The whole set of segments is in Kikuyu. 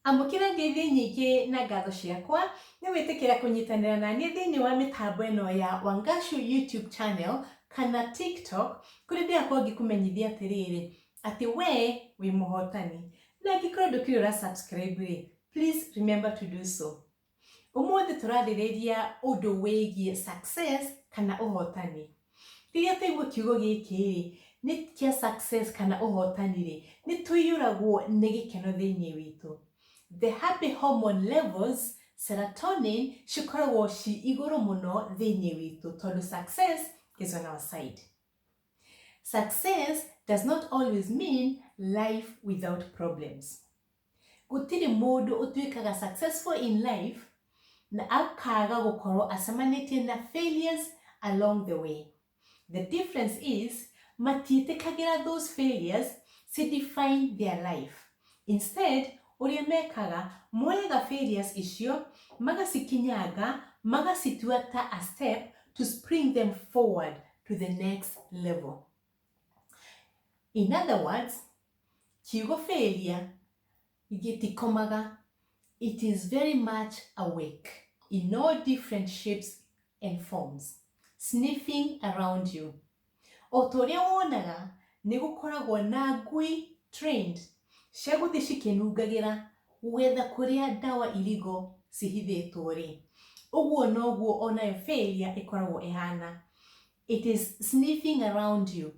Amũkĩra ngeithi nyingĩ na ngatho ciakwa nĩ wĩtĩkĩra kũnyitanĩra na niĩ thĩinĩ wa mĩtambo ĩno ya Wangashu YouTube channel kana TikTok kũrĩa ndĩrakorwo ngĩkũmenyithia atĩrĩrĩ atĩ we wĩ mũhotani. Na angĩkorwo ndũkĩrĩ ũra subscribe rĩ, please remember to do so ũmũthĩ tũrarĩrĩria ũndũ wĩgiĩ success kana ũhotani rĩrĩa taigua kiugo gĩkĩ rĩ nĩ kĩa success kana ũhotani rĩ nĩ tũiyũragwo nĩ gĩkeno thĩinĩ witũ the happy hormone levels serotonin cikoragwo ci igũrũ mũno thĩinĩ witũ tondũ success is on our side success does not always mean life without problems Gũtirĩ mũndũ ũtuĩkaga successful in life na akaga gũkorwo acemanĩtie na failures along the way. The difference is matiĩtĩkagĩra those failures ci define their life. Instead, ũrĩa mekaga, moyaga failures icio, magacikinyanga, magacitua ta a step to spring them forward to the next level. In other words, kiugo failure gĩtikomaga, it is very much awake in all different shapes and forms, sniffing around you. O ta ũrĩa wonaga nĩ gũkoragwo na ngui trained cia gũthiĩ cikĩnungagĩra gwetha kũrĩa ndawa irigo cihithĩtwo rĩ, ũguo noguo onayo failure ĩkoragwo ĩhana. It is sniffing around you.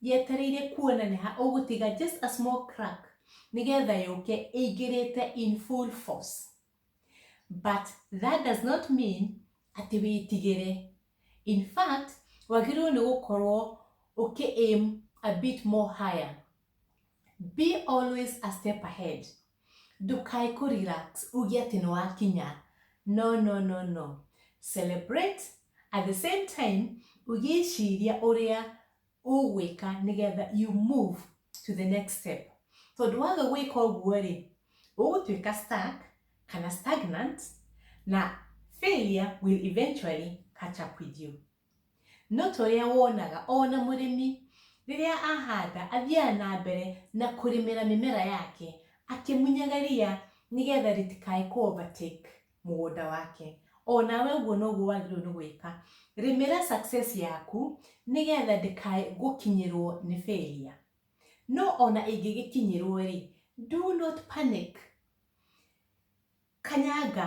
Yetereire kuona nĩ ha ũgũtiga just a small crack nĩgetha yũke ĩingĩrĩte in full force. But that does not mean atĩ wĩtigĩre. In fact, wagĩrĩirwo nĩ gũkorwo ũkĩ aim a bit more higher. Be always a step ahead. Ndũkae kũ relax uge atĩ nĩ wakinya. No, no, no, no. Celebrate at the same time ũgĩciria ũrĩa ũgwĩka nĩgetha you move to the next step. Tondũ waga gwĩka ũguo-rĩ, ũgũtuĩka stuck kana stagnant na failure will eventually catch up with you. No ta ũrĩa wonaga, o na mũrĩmi rĩrĩa ahanda athiaga na mbere na kũrĩmĩra mĩmera yake akĩmunyaga ria nĩgetha rĩtikae kũ overtake mũgũnda wake. O nawe ũguo noguo wagĩrĩirwo nĩ gwĩka. Rĩmĩra success yaku nĩgetha ndĩkae gũkinyĩrwo nĩ failure. No o na ĩngĩgĩkinyĩrwo-rĩ, do not panic. Kanyanga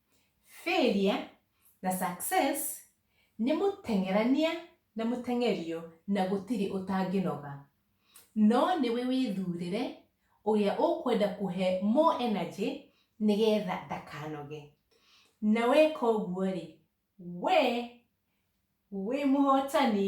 Failure na success nĩ mũteng'erania na mũteng'erio na gũtirĩ ũtangĩnoga. No nĩwe wĩthurĩre ũrĩa ũkwenda kũhe more energy nĩgetha ndakanoge. Na weka ũguo-rĩ, wee wĩ mũhotani.